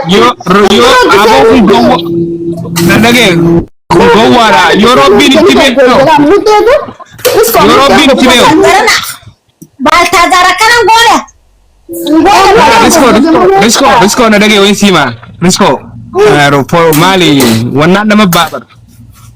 Yoo yoo aboo kun gowwa nan dhagee kun gowwaadha yoo rabbiin itti beeku yoo rabbiin itti beeku Baaltaazaar akkanan goone. riskoo riskoo riskoo riskoo na dhagee wayin siima riskoo maali wannaan nama baafadha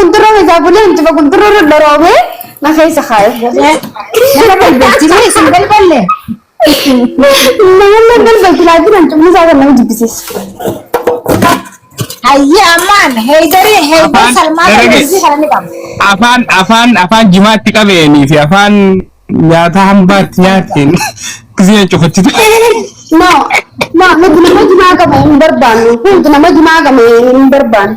Gundurroo keessaa bulee injifa gundurroo irra doroobee na keessa kaa'e. Nama balbalchine isin balballe. Namoonni balbalti laatiin hancufni isaa kan nama jibbisiisu. Hayyee ammaan heeydarii heeydar Afaan salmaa darbe. darbeessii kana ni qabna. Afaan afaan afaan jimaatti qabeenii fi afaan nyaata hambaatti nyaateen gisee cufachi ture. No, no, nuti nama jimaa qabu hin barbaannu. Nuti nama jimaa qabu hin barbaannu.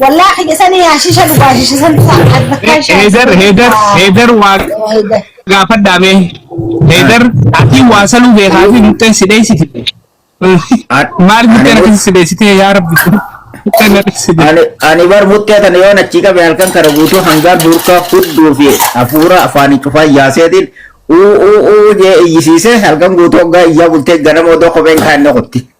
Wallah kiyya sanii hashisha dhugaa hashisha san bakkaan shaayii. Heedar heedar heedar waa Heedar. gaafadhaa mee heedar ati waa saluu beekaa fi muxxeen si dheessiti. Maal muxxeen akkasii si dheessitee yaa rabbi muxxeen na dheessite. Ani ani bar muttee tana yoon achii qabe halkan kana guutuu hangaan hurkaa hudduu fi hafuura afaanii cufaa yaaseetiin uu uu uu jee iyyisiisee halkan guutuu hoggaa iyyaa bultee ganama odoo kopheen kaa'inna qotti.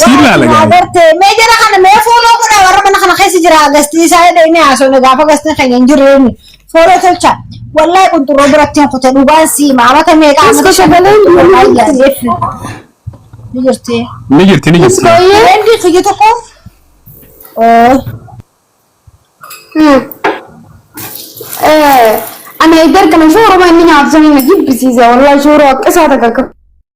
Siin laala Yaa gaa'e. bartee mee jara kana mee fooloo godha warra mana kana keessa jira gasti isaa jedhee inni haasofne gaafa gasti keenya hin jirre inni fooloo tolcha wallahi qunxurroo biratti hin kute dhugaan sii maamata meeqa Isko amata shagaleen shan- biyya wallahi jirti. yaadee fi- ni jirti Ni jirti ni jirti. Rendi kiyya tokko oo Ana iddoo kana shooruma inni nyaatu sana na jibbisiisa. Walaa shooroo akka isaa takka akka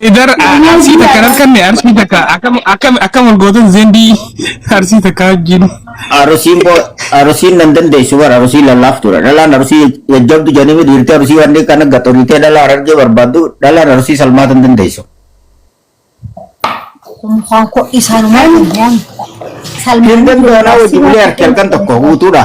Idar arsii takka harkanne arsii takka akkam akkam akkam wal gootan zendii arsii takka wajjin. Arusiin boo arusiin nan dandeessu bara arusii lallaaf ture dhalaan arusii jajjabdu janimi dhiirti arusii wanni kana gaxoritee dhalaa arargee barbaaddu dhalaan arusii salmaa tan dandeessu. Mukaan koo isaanuma dhugoon. Hirgan doonaa wajji bulee harki harkan tokko guutuudha.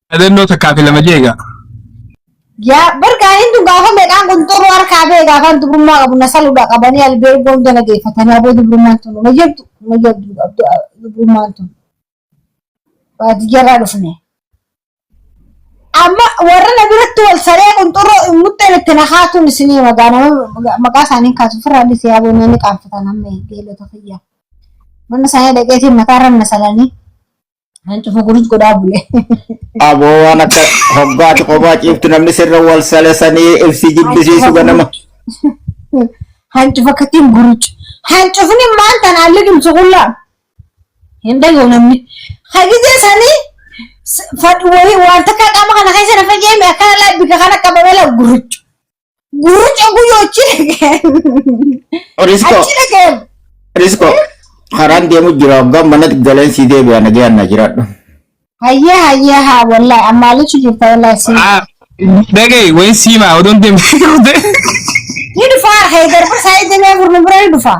Dhadannoo takkaa fi lama jeega. Yaa barkaan hin dhugaa home dhaan kun xuruu harkaa bee gaafaan dubrummaa qabu na saluudha qabanii albeergoo hunda na deeffatanii aboo dubrummaan tun na jirtu na jirtu dubrummaan tun baadiyyaarraa dhufne. Amma warra na biratti wal saree kun xuruu muxxeen itti na kaatuun isinii magaa nama maqaa isaanii kaatu ofirraa dhisee aboo namni qaanfatan amma beelota fayyaa. Mana isaanii dhaqeetiin mataarra na salanii. Kan cufa gurus godhaa bule. Aboo waan akka hoggaati kophaa ciiftu namni sirra wal salesanii ibsi jibbisiisu ganama. Hancu fakkatiin guruch. Hancufni maal tan haalli dhumsu qullaa. Hin dhagahu namni. Hagizee sanii fadhu wayii waan takka qaama kana keessa na fayyee mi akkana laa bika kana qabamee laa guruchu. Gurrucha guyyoo achi dhaga'an. Risko, Achi dhaga'an. risko. Karaan deemu jira hoggaa manatti galeen sii deebi'a nagaan na jiraadhu. Hayyee hayyee haa wallahi ammaalichi jirta wallahi si. Ah, dhaga'i wayi siimaa odoon deemtee turte. Ni dhufaa haydar barsaa eegalee gurnu bira ni dhufaa.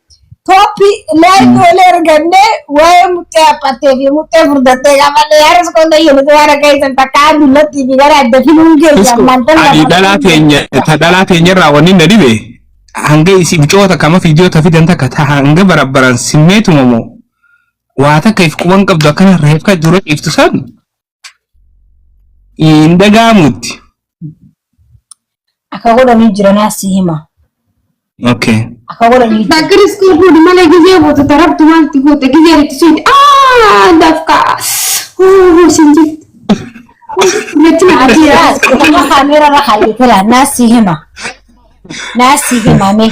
Toppi lay tole erganne waa'ee muxxee haphattee fi muxxee furdattee gaafadhe yaaras qonna jedhutu waan akka isan takkaa dullattii fi gara adda filuun keessa Isko, ammaan tan ani dhalaa teenya ta dhalaa teenya irraa wanni na dhibe hanga isi bicoota kama fiidiyoo ta fidan takka ta hanga barabbaran simmeetuma moo waa takka if quban qabdu akkana reefka dura dhiiftu san hin dhaga'amutti. Akka godhanii jiranaa si hima. Okay. Akka godhanii jiran. Bakka riskii fuudhi malee gizee booda tarabdu maalti goota gizee itti suuti. Aa dafka. Hoo sin jirti. Natti na Ati ajira. raas kutuma kaameera irra kaayyeetera naa si hima. Naa si hima mee.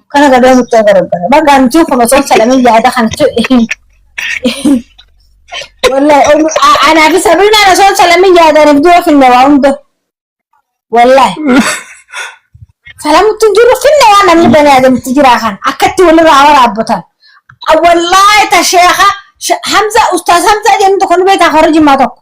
kana gadoo mucaa garagara bakka an jiru kun osoo salamin yaada kan wallahi anaa fi sabriinaan osoo salamin yaadaan ibduu yoo finne waa hunda wallahi salamutti hin jiru finne waa namni bani aadamitti jiraa kan akkatti walirraa waraabbatan wallahi ta sheekha hamza ustaas hamza jennu tokko nu beekaa hora jimmaa tokko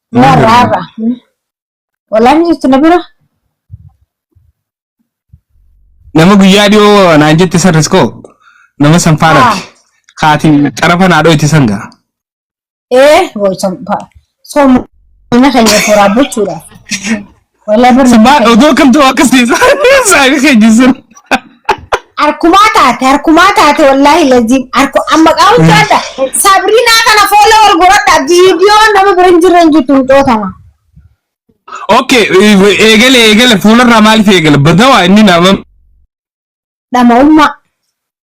Yaa raara. Wallahi ni jirti na bira. Nama guyyaa dhiyoo naan jette san riskoo nama san faana Ah. kaatii xarafa naa dhoyti san gaa. Ee boo'icha soomina keenya toraabbachuudhaaf. Walaa barri Sabaa maal odoo kan ta'u akkas ta'e saayii keenya sun. Harkumaa taate harkumaa taate wallaahi laziim harku amma qaawun jaadha sabriinaa kana foola wal godhadha viidiyoo nama bira hin jirre hin jirtu hin xootama. Okay eegale eegale fuularraa maaliif eegale badawaa inni nama Dhama'ummaa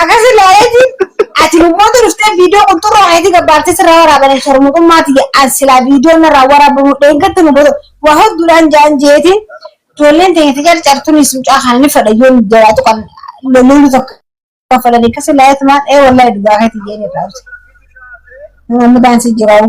Akkasi laayeeti ati lubboota dhuftee viidiyoo qunxurroo wayitii gabbaaftee sirraa waraabanii sharmuxummaa tiyya an silaa viidiyoo narraa waraabamu dheengatta lubboota waa hodduudhaan jaan jeetiin ijoolleen teenya tajaajilcartuun isin mucaa kana ni fadha yoo nu jalaa tuqan lolloonni tokko kan fadhanii akkasi laayeetumaan ee wallahi dhugaa keetii jeen irraa namni daansii jiraa'u.